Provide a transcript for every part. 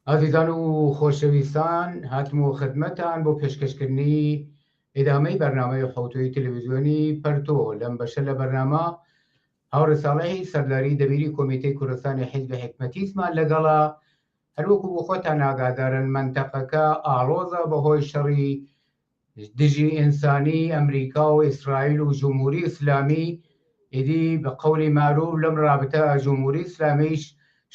ئازیزان و خۆشەویستان هاتم و خدمەتان بۆ پێشکەشکردنی ئیدامەی بەرنمەی حوتوی تەلەویزیۆنی پەرتۆ لەم بەشە لە بەرنامە هاوڕساڵەی سەرداری دەبیری کۆمیتەی کوردستانی حیزب حکمەتیسمان لەگەڵا هەروەکو بۆ خۆتان ناگادارن منتەقەکە ئاڵۆزە بەهۆی شەڕی دژی ئینسانی ئەمریکا و ئیسرائیل و جمهوری ئیسلامی ئیدی بە قەولی مەعروف لەم رابتە جمهوری ئیسلامیش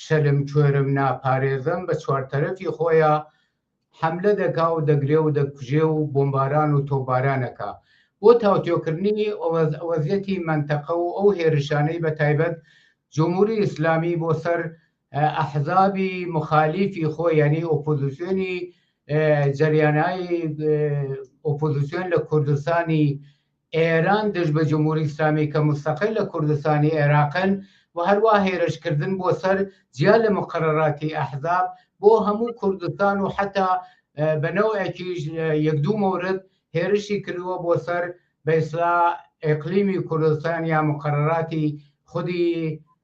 شەلم کوێرم ناپارێزەم بە چوار تەرەفی خۆیا حەملە دەکا و دەگرێ و دەکوژێ و بۆمباران و تۆپباران ئەکا بۆ تاوتوێکردنی وەزیەتی مەنتەقە و ئەو هێرشانەی بە تایبەت جمهوری ئیسلامی بۆ سەر ئەحزابی مخالیفی خۆ یعنی ئۆپۆزیسیۆنی جەریانایی ئۆپۆزیسیۆن لە کوردستانی ئێران دژ بە جمهوری ئیسلامی کە مستەقل لە کوردستانی عێراقن و هەروە هێرشکردن بۆ سەر جیا لە مقرراتی ئەحزاب بۆ هەموو کوردستان و حتا بەنەوەکیش یەک دوو مورد هێرشی کردووە بۆ سەر بەسرا ئەقلیمی کوردستان یا مقرراتی خودی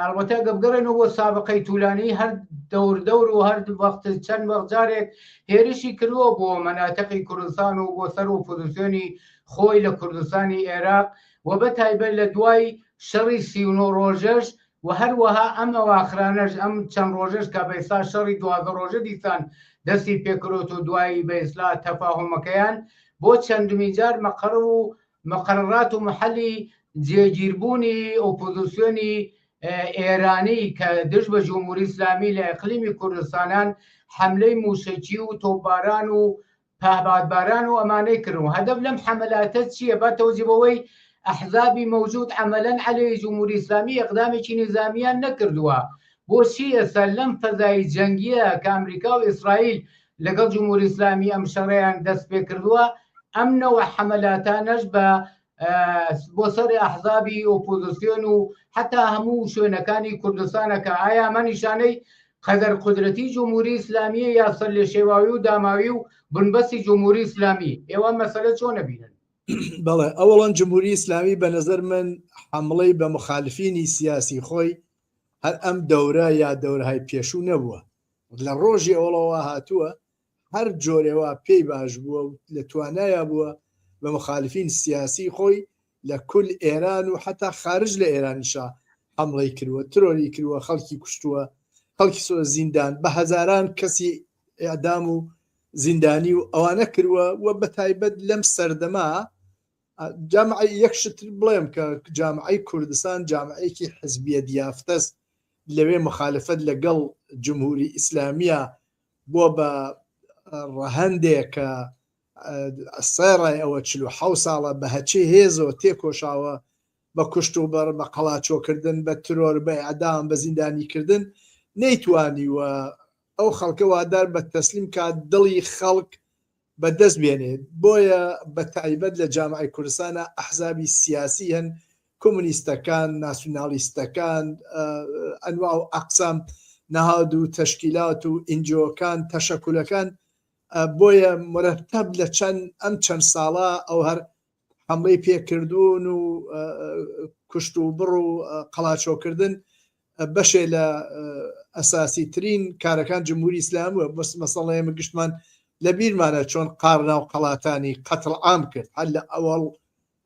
ئەڵبەتە گە بگەڕێنەوە بۆ سابقەی تولانی هەر دەور دەور و هەر وەخت چەند وەخجارێک هێرشی کردووە بۆ مەناتەقی کوردستان و بۆ سەر و پوزیسیۆنی خۆی لە کوردستانی عێراق و بە تایبەت لە دوای شەڕی سیونۆ ڕۆژەش و هەروەها ئەم ئەواخرانەش ئەم چەند ڕۆژەش کە بەئستا شەڕی دوازە ڕۆژە دیسان دەستی پێکرۆت و دوایی بە ئسلا تەفاهۆمەکەیان بۆ چەندمی جار مەقڕ و مقررات و محلی جێگیربوونی ئۆپۆزیسیۆنی ئێرانی کە دژ بە جمهوری ئیسلامی لە ئەقلیمی کوردستانان حملەی مووشەکی و تۆپباران و پهبادباران و ئەمانەی کرد و هەدەف لەم حەملاتە چییە با تەوجی بەوەی ئەحزابی مەوجود عملەن عەلەی جمهوری ئیسلامی ئەقدامێکی نیزامیان نەکردووە بۆچی ئێستا لەم فەزای جەنگیە کە ئەمریکا و ئیسرائیل لەگەڵ جمهوری ئیسلامی ئەم شەڕەیان دەست پێ کردووە ئەم نەوە حەمەلاتانەش بە بۆ سەر ئەحزابی ئۆپۆزیسیۆن و حتا هەموو شوێنەکانی کوردستانەکە ئایا ئەمە نیشانەی قەدەر قدرەتی جمهوری ئیسلامیە یا سەر لێ شێواوی و داماوی و بنبەستی جمهوری ئیسلامی ئێوە مەسەلە چۆن نەبینن بەڵێ ئەوڵەن جمهوری ئیسلامی بە نظر من حملەی بە مخالفینی سیاسی خۆی هەر ئەم دەورە یا دەورهای پێشوو نەبووە لە ڕۆژی ئەوڵەوە هاتووە هەر جۆرێوا پێی باش بووە و لە توانایا بووە بە مخالفین سیاسی خۆی لە کل ئێران و حتا خارج لە ئێرانیشا حمڵی کردوە ترۆری کردوە خەڵکی کوشتووە خەڵکی سۆ زیندان بە هەزاران کەسی ئەدام و زیندانی و ئەوانە کردوە و بە تایبەت لەم سەردەما جامعی یەکشتر بڵێم کە جامعی کوردستان جامعەیەکی حزبیە دیافتەس لەوێ مخالفەت لە گەڵ جمهوری ئیسلامیە بۆ بە ڕەهەندێ کە سەرای ئەوە چل و حەو ساڵە بە هەچی هێزۆ تێکۆشاوە بە کوشت و بەڕ بە قەڵاچۆکردن بە ترۆر بە ئەدام بە زیندانیکردن نەیتوانی وە ئەو خەڵکە وادار بە تەسلیم کات دڵی خەڵک بەدەست بێنێت بۆیە بە تایبەت لە جامعەی کوردستانا ئەحزابی سیاسی هەن کومنیستەکان ناسیونالیستەکان ئەنواع و ئەقسام نەهاد و تەشکیلات و ئینجۆکان تەشەکولەکان بۆیە مرەتەب لە چەند ئەم چەند ساڵە ئەو هەر حملەی پێکردوون و کوشت و بڕ و قەڵاچۆکردن بەشێ لە ئەساسی ترین کارەکان جمهوری ئیسلامە بەس مەسەڵەیە من گشتمان لە بیرمانە چۆن قارنا و قەڵاتانی قەتڵ عام کرد هەر لە ئەوەڵ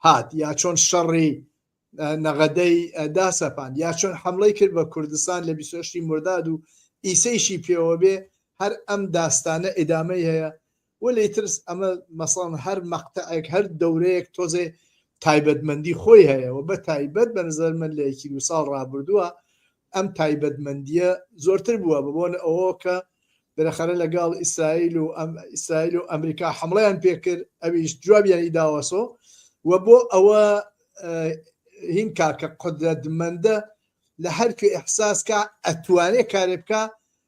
هات یا چۆن شەڕی نەغەدەی داسەپان یا چۆن حملەی کرد بە کوردستان لە بیسۆشتی مرداد و ئیسەیشی پێوە بێ هەر ئەم داستانە ئیدامەی هەیە وەلێ ترس ئەمە مەسەڵەن هەر مەقتەعێک هەر دەورەیەک تۆزێ تایبەتمەندی خۆی هەیە و بە تایبەت بە نظر من لە یەکی دو ساڵ ڕابردووە ئەم تایبەتمەندیە زۆرتر بووە بەبوون ئەوە کە بەرەخەرە لەگەڵ ئیسرائیل و ئەم ئیسرائیل و ئەمریکا حمڵیان پێکرد ئەویش جوابیانی داوەسۆ و بۆ ئەوە هین کاکە قدرەتمەندە لە هەرکوێ ئەحساسکە ئەتوانێ کارێ بکە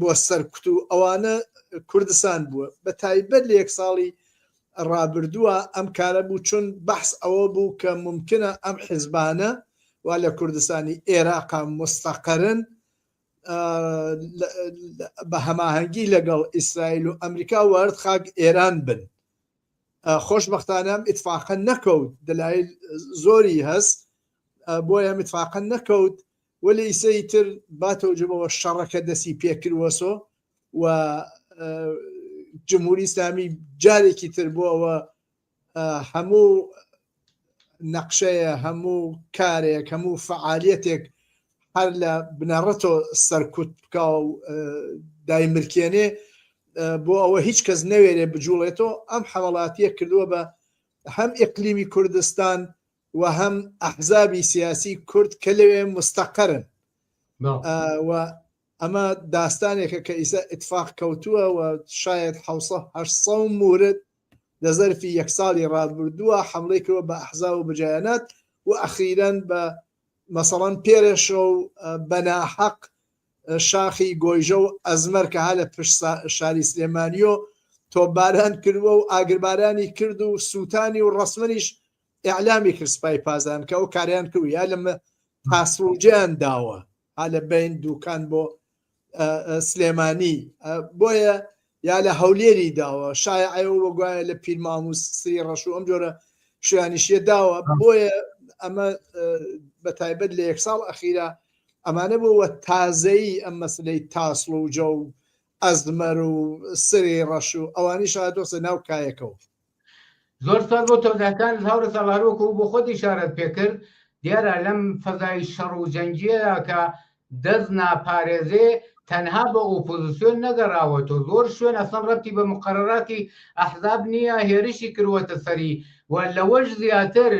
بۆ سەرکوت و ئەوانە کوردستان بووە بە تایبەت لە یەک ساڵی ڕابردووە ئەم کارە بوو چون بەحس ئەوە بوو کە ممکنە ئەم حیزبانە وا لە کوردستانی ئێراقا مستەقرن بە هەماهەنگی لەگەڵ ئیسرائیل و ئەمریکا وارد خاک ئێران بن خۆشببختانەم ئیتفاقە نەکەوت دەلایل زۆری هەست بۆیە متفاقە نەکەوت وەلێ ئیسە ئیتر با تەوجەمەوە شەڕەکە دەسی پێکروەسۆ و جمهوری ئیسلامی جارێکی تر بۆ ئەوە هەموو نەقشەیە هەموو کارێک هەموو فعالیەتێک هەر لە بنەڕەتۆ سەرکوت بکە و دایمرکێنێ بۆ ئەوە هیچ کەس نەوێرێ بجوڵێتەوە ئەم حەوڵاتیە کردووە بە هەم ئقلیمی کوردستان و هەم ئەحزابی سیاسی کورد کە لەوێ مستەقەرن و ئەمە داستانێکە کە ئیسا ئتفاق کەوتووە و شاید حوسە مورد لە زەرفی یەک ساڵی ڕابردووە حملەی کردوە بە ئەحزا و بجیانات و ئەخیرەن بە مەسەڵەن پێرەشە و بەناحەق شاخی گۆیژە و ئەزمەر کە ها لە پشت شاری سلێمانیۆ تۆباران کردووە و ئاگربارانی کرد و سووتانی و ڕسممەنیش ئیعلامی کرد سپای پاسداران کە ئەو کارەیان کرد یا لەمە پاسوجیان داوە ها لە بین دوکان بۆ سلێمانی بۆیە یا لە هەولێری داوە شای ئەو وەگوایە لە پیرماموس سری ڕەش و ئەم جۆرە شویانیشیە داوە بۆیە ئەمە بە تایبەت لە یەک ساڵ ئەخیرا ئەمانە بۆوە تازەیی ئەم مەسلەی تاسڵ و جە و ئەزمەر و سری ڕەش و ئەوانی شادۆسە ناو کایەکەەوە زۆر سپاس بۆ تۆزەکان هاورە ساڵاروەکو بۆ خۆت ئشارەت پێکرد دیارە لەم فەزای شەڕ و جەنگیەدا کە دەست ناپارێزێ تەنها بە ئۆپۆزیسیۆن نەگەڕاوەتۆ زۆر شوێن ئەسڵەن ڕەتی بە مقرراتی ئەحزاب نییە هێرشی کروەتە سەری و لەوەش زیاتر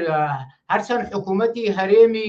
هەرچەند حکوومەتی هەرێمی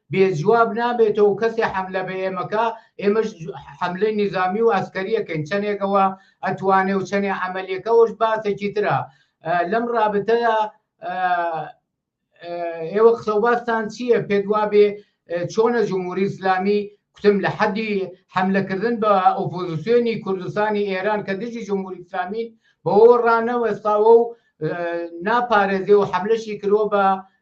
بێ جواب نابێتەوەو کەسێ حەملە بە ئێمە کا ئێمەش حەملەی نیزامی و عەسکەری ئەکەین چەنێک ئەوە ئەتوانێ و چەنێ عەمەلیەکە ئەوەش باسێکی ترە لەم رابتەدا ئێوە قسەو باستان چییە پێت وابێ چۆنە جمهوری ئیسلامی کوتم لە حەدی حەملەکردن بە ئۆپۆزیسیۆنی کوردستانی ئێران کە دژی جمهوری ئیسلامی بەوە رانەوەستاوە و ناپارێزێ و حەملەشی کرۆ بە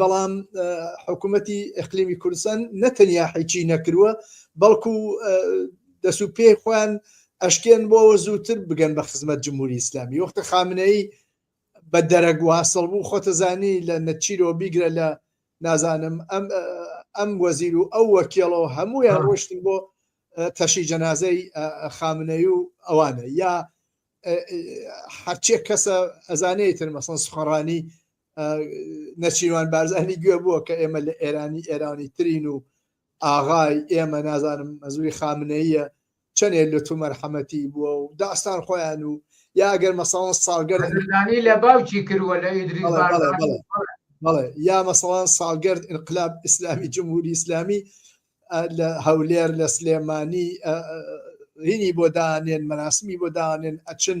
بەڵام حکوومەتی ئەقلیمی کوردستان نەتەنیا حیچی نەکرووە بەڵکو دەسو پێ خۆیان ئەشکێن بۆەوە زووتر بگەن بە خزمەت جمهوری ئیسلامی وەختە خامنەی بە دەرەک واسڵ بوو خۆتەزانی لە نەچیرۆ بیگرە لە نازانم ئەم ئەم وەزیر و ئەو وەکیڵەوە هەمویان ڕۆشتن بۆ تەشی جەنازەی خامنەی و ئەوانە یا هەرچێک کەسە ئەزانەی تر مەسن سخۆڕانی نەچیروان بارزانی گوێ بووە کە ئێمە لە ئێرانی ئێرانی ترین و ئاغای ئێمە نازانم مەزوی خامنەیە چەندێ لە تو مەرحەمەتی بووە و داستان خۆیان و یا ئەگەر مەسەڵەن ساڵگەر لە باوکی کردوە لە ئیدری بەڵێ یا مەسەڵان ساڵگەرد انقلاب ئیسلامی جمهوری ئیسلامی لە هەولێر لە سلێمانی هینی بۆ دانێن مەناسمی بۆ دانێن ئەچن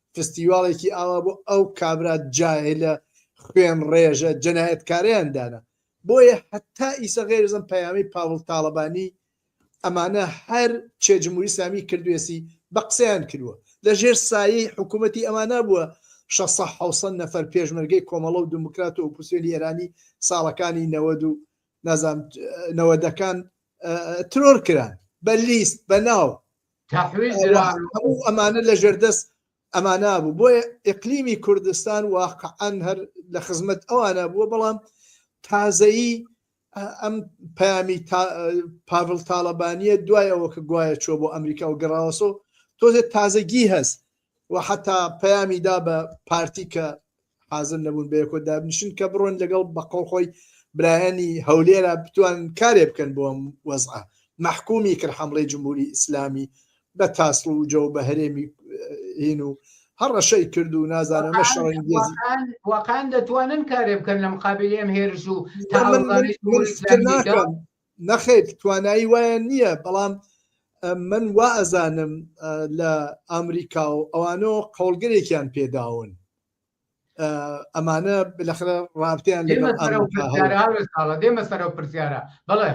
فستیواڵێکی ئاوا بۆ ئەو کابرا جاهلە خوێن ڕێژە جەنایەتکاریان دانا بۆیە هەتا ئیسە غێرزم پەیامی پاڵ تاالبانی ئەمانە هەر چێ جمهوری سامی کردوێسی بە قسەیان کردووە لە ژێر سایی حکوومەتتی ئەمانە بووە 1600 نەفەر پێشمەرگەی کۆمەڵە و دموکرات و ئۆپوسیۆنی ئێرانی ساڵەکانی نەوەد و نازام نەوەدەکان ترۆر کران بە لیست بە ناو هەموو ئەمانە لە ژێردەست ئەمانە بوو بۆیە ئەقلیمی کوردستان واقعەن هەر لە خزمەت ئەوانە بووە بەڵام تازایی ئەم پامی پاڤل تاالبانیە دوای ئەوە کە گوایە چۆ بۆ ئەمریکا و گەڕاوەسۆ تۆزێت تازەگی هەست و حەتا پەیامی دا بە پارتی کە حازر نەبوون بە یەکۆ دابنیشن کە بڕۆن لەگەڵ بە قەڵ خۆی برایانی هەولێرا بتوان کارێ بکەن بۆ ئەم وەزعە مەحکومی کرد حملەی جمهوری ئیسلامی بە تاسڵ و جەو بە هەرێمی هین و هەر ڕەشەی کرد و نازانە مە شەڕنگێزی وەقان دەتوانن کارێ بکەن لەم قابلی ئەم هێرش و من من من فکر ناکەم نەخیر توانایی وایان نییە بەڵام من وا ئەزانم لە ئامریکا و ئەوانۆ قەڵگرێکیان پێداون ئەمانە بلەخرە ڕابتیان دێمە سەرەوە پرسیارە بڵێ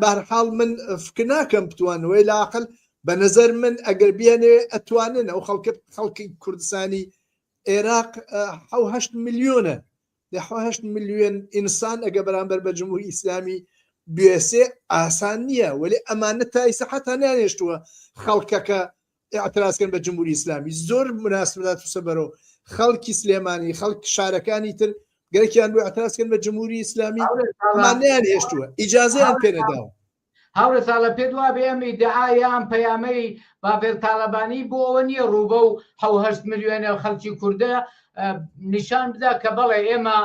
بارحاڵ من فکر ناکەم بتوانەوەی لاقل بە نظر من ئەگەر بیانێ ئەتوانن ئەو خەڵکە خەڵکی کوردستانی عێراق حهشت میلیۆنە دە هەشت ملیۆن ئینسان ئەگەر بەرامبەر بە جمهوری ئیسلامی بوێسێ ئاسان نییە وەلێ ئەمانە تا ئیسە حتا نانێشتووە خەڵکەکە ئاعترازکەن بە جمهوری ئیسلامی زۆر مناسبات وسە بەرەو خەڵکی سلێمانی خەڵک شارەکانی تر گەرەکیان بۆ ئاعترازکەن بە جمهوری ئیسلامی مانیان هێشتووە ئیجازیان پێنەداوە هاورێ ساڵە پێت وابێ ئەم ئیدعا یا ئەم پەیامەی باڤێل تاڵەبانی بۆ ئەوە نییە ڕوو بەو حەو هەشت ملیۆنە خەڵکی کوردە نیشان بدا کە بەڵێ ئێمە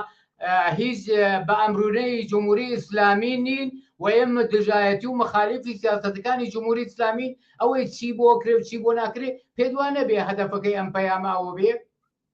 هیچ بە ئەمرونەی جمهوری ئیسلامی نین و ئێمە دژایەتی و مخالفی سیاستەکانی جمهوری ئیسلامی ئەوەی چی بۆ کرێ و چی بۆ ناکرێ پێدوان نەبێ هەدەفەکەی ئەم پەیاماوە بێ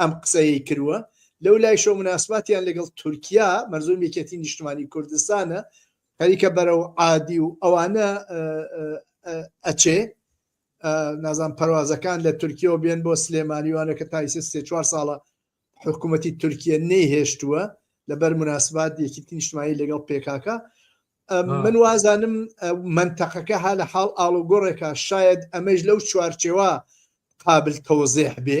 ئەم قسەیەی کروە، لەولایشەوە موناسباتیان لەگەڵ تورکیا، مەرزۆم یەکێتی نیشتمانی کوردستانە، خەریکە بەرەو عادی و ئەوانە ئەچێ، نازانم پەروازەکان لە تورکیەوە بێن بۆ سلێمانی وانە کە تا ئیسە سێ چوار ساڵە حکوومەتی تورکیە نەیهێشتووە لەبەر مناسبات یەکیتی نیشتمانی لەگەڵ پێکاکە من وازانم منتەقەکە ها لە حاڵ ئاڵوگۆڕێکە شاید ئەمەش لەو چوارچێوە قابل تەوەزێح بێ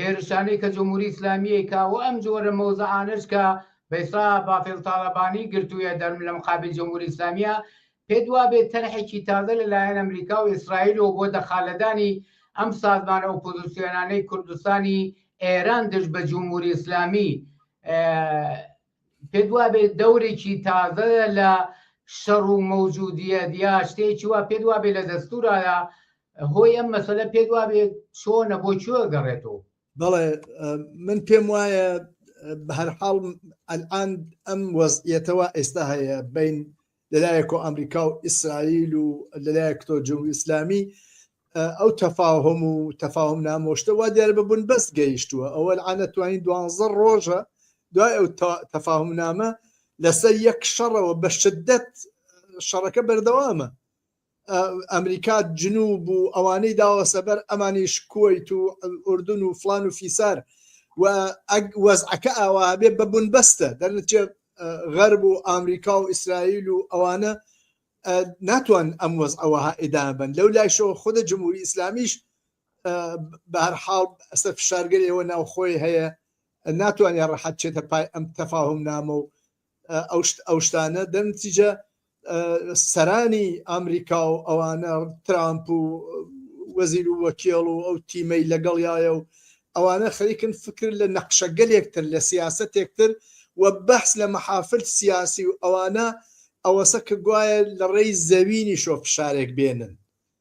هێرشانەی کە جمهوری ئیسلامیی کە و ئەم جۆرە مەوزەعانەش کە بەیسا بافێڵ تاڵەبانی گرتوویە دەرم لە مقابل جمهوری ئیسلامییە، پێت وابێ تەرحێکی تازە لە لایەن ئەمریکا و ئیسرائیلەوە بۆ دەخالەدانی ئەم سازمانە ئۆپۆزسیۆنانەی کوردستانی ئێران دژ بە جمهوری ئیسلامیی، پێت وابێ دەورێکی تازەیە لە شەڕ و مەوجودیەت یا شتێکی وا پێت وابێ لە دەستورایە هۆی ئەم مەسەلە پێت وابێ چۆنە بۆ چۆ گەڕێتەوە بەڵێ من پێم وایە بە هەرحاڵ ئەلان ئەم وەزیەتەوە ئێستا هەیە بین لەلایەکەوە ئەمریکا و ئیسرائیل و لەلایەک تۆ جمهوری ئیسلامی ئەو تەفاهم و تەفاهم نامۆشتە وا دیارە بە بوون بەست گەیشتووە ئەوە ئەنەتوانین دوانزە ڕۆژە دوای ئەو تەفاهم نامە لەسەر یەک شەڕەوە بە شدت شەڕەکە بەردەوامە ئەمریکا جنوب و ئەوانەی داوە سەبەر ئەمانیش کویت و ئوردن و فلان و فیسار و وەزعەکە ئاوا بێ بە بوون بەستە دەرنچێ غەرب و ئامریکا و ئیسرائیل و ئەوانە ناتوان ئەم وەز ئەوەها ئیدابن لەو لایشەوە خودە جمهوری ئیسلامیش بەهر حاڵ ئەسە فشارگەری ئەوە ناوخۆی هەیە ناتوانێت ڕەحەت چێتە پای ئەم تەفاهم نامە و ئەو شتانە دەنتیجە سەرانی ئەمریکا و ئەوانە ترامپ و وەزیر و وەکێڵ و ئەو تیمەی لەگەڵیایە و ئەوانە خەریکن فکر لە نەخشەگەلێکتر لە سیاستێکتر و بەحس لە مەحافل سیاسی و ئەوانە ئەوەسە کە گوایە لە ڕێی زەوینی شۆ فشارێک بێنن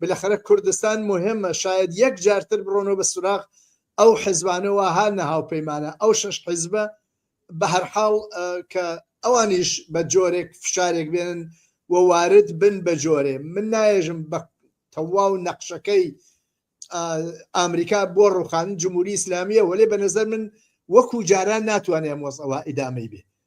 بلەخەرە کوردستان موهمە شایەد یەک جار تر برۆنەوە بە سوراغ ئەو حزبانە وا ها نە هاوپەیمانە ئەو شەش حزبە بە هەر حاڵ کە ئەوانیش بە جۆرێک فشارێک بێنن و وارد بن بە جۆرێ من نایێژم بە تەواو نەقشەکەی ئامریکا بۆ ڕوخان جمهوری ئیسلامیە وەێ بە نظر من وەکو جاران ناتوانێ ئەم وەز ئەوە ئیدامەی بێ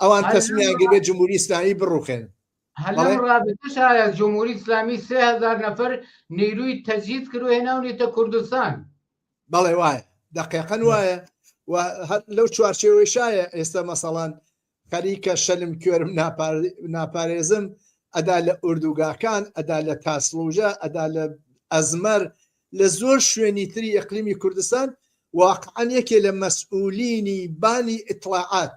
ئەوان تەسمیان گرێت جمهوری ئیسلامی بڕوخێن شایە جمهوری ئیسلامی سهزار نەفر نیروی تەجییز کرد و هێناونێتە کوردستان بەڵێ وایە دقیقەن وایە و لەو چوارچێوەی شایە ئێستا مەسەڵان خەریکە شەلم کوێرم ناپارێزم ئەدا لە ئوردوگاکان ئەدا لە تاسلوژە ئەدا لە ئەزمەر لە زۆر شوێنی تری ئەقلیمی کوردستان واقعان یەکێ لە مەسئولینی بانی ئیتلاعات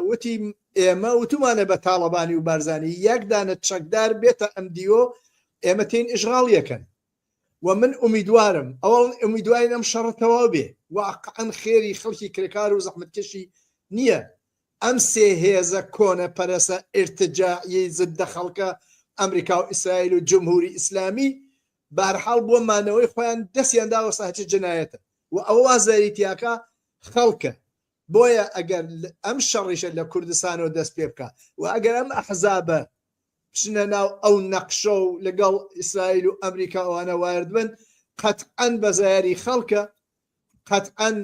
وتی ئێمە وتومانە بە تاڵەبانی و بارزانی یەک دانە چەکدار بێتە ئەم دیوۆ ئێمە تین ئیشغاڵ یەکەن و من ئومیدوارم ئەوڵ ئومیدواین ئەم شەڕە تەواو بێ واقعەن خێری خەڵکی کرێکار و زەحمەتکەشی نییە ئەم سێ هێزە کۆنە پەرەسە ئرتجاعی زدە خەڵکە ئەمریکا و ئیسرائیل و جمهوری ئیسلامی بارحاڵ بۆ مانەوەی خۆیان دەستیان داوە ساچی جنایەتە و ئەوە وازداریتیاکە خەڵکە بۆیە ئەگەر ئەم شەڕیشە لە کوردستانەوە دەست پێ بکا و ئەگەر ئەم ئەحزابە بچنە ناو ئەو نەقشە و لەگەڵ ئیسرائیل و ئەمریکا ئەوانە وارد بن قەتعەن بە زایاری خەڵکە قەتعەن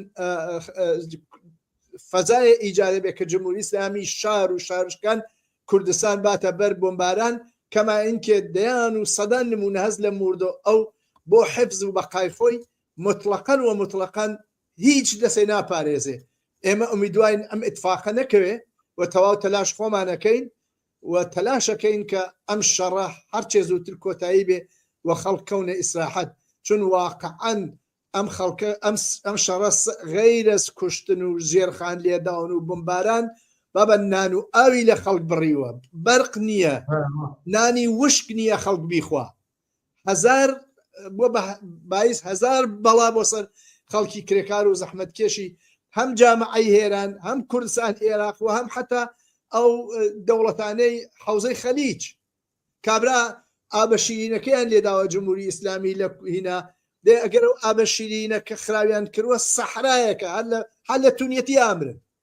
فەزای ئیجارە بێ کە جمهوری ئسلامی شار و شارشکان کوردستان باتە بەر بۆمباران کەما ئینکێ دەیان و سەدان نمونە هەز لە موردۆ ئەو بۆ حفز و بەقای خۆی مطلقەن و مطلقەن هیچ لەسێ ناپارێزێ ئێمە ئومیدواین ئەم ئتفاقە نەکەوێ و تەواو تەلاش خۆمانەکەین و تەلاشەکەین کە ئەم شەڕە هەرچێ زووتر کۆتایی بێ و خەڵک کەونە ئیسراحەت چون واقعەن ئەم خەڵکە ئەم شەڕە غەیرەز کوشتن و ژێرخان لێداون و بمباران بابە نان و ئاوی لە خەڵک بڕیوە بەرق نییە نانی وشک نییە خەڵک بیخوا هزار بۆ بایز هزار بەڵا بۆ سەر خەڵکی کرێکار و زەحمت کێشی هەم جامعی هێران هەم کوردستان عێراق و هەم حتا ئەو دەوڵەتانەی حوزەی خەلیج کابرا ئابەشیرینەکەیان لێداوە جمهوری ئیسلامی لە هینا دێ ئەگەر ئەو ئابەشیرینە کە خراویان کردوە سەحرایەکە هەر لە هەر لە تونیەتی ئامرن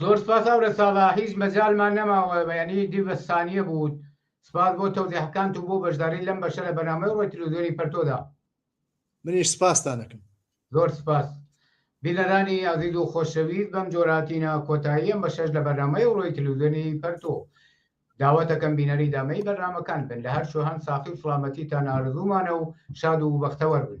زۆر سپاس ئەورە ساڵا هیچ مەجالمان نەماوە بەیانی دی بە سانیە بوو سپاس بۆ تەوزیحەکانت و بۆ بەشداری لەم بەشە لە بەنامەی ڕۆی تلوزیۆنی پەرتۆدا منیش سپاستان دەکەم زۆر سپاس بینەرانی ئازیز و خۆشەویست بەم جۆراتینە کۆتاییەم بە شەش لە بەرنامەی ڕۆی تلوزیۆنی پەرتۆ داوەتەکەم بینەری دامەی بەرنمەکان بن لە هەر شوهان ساقی و سلامەتی تا نارزوومانە و شاد و بەختەوەر بن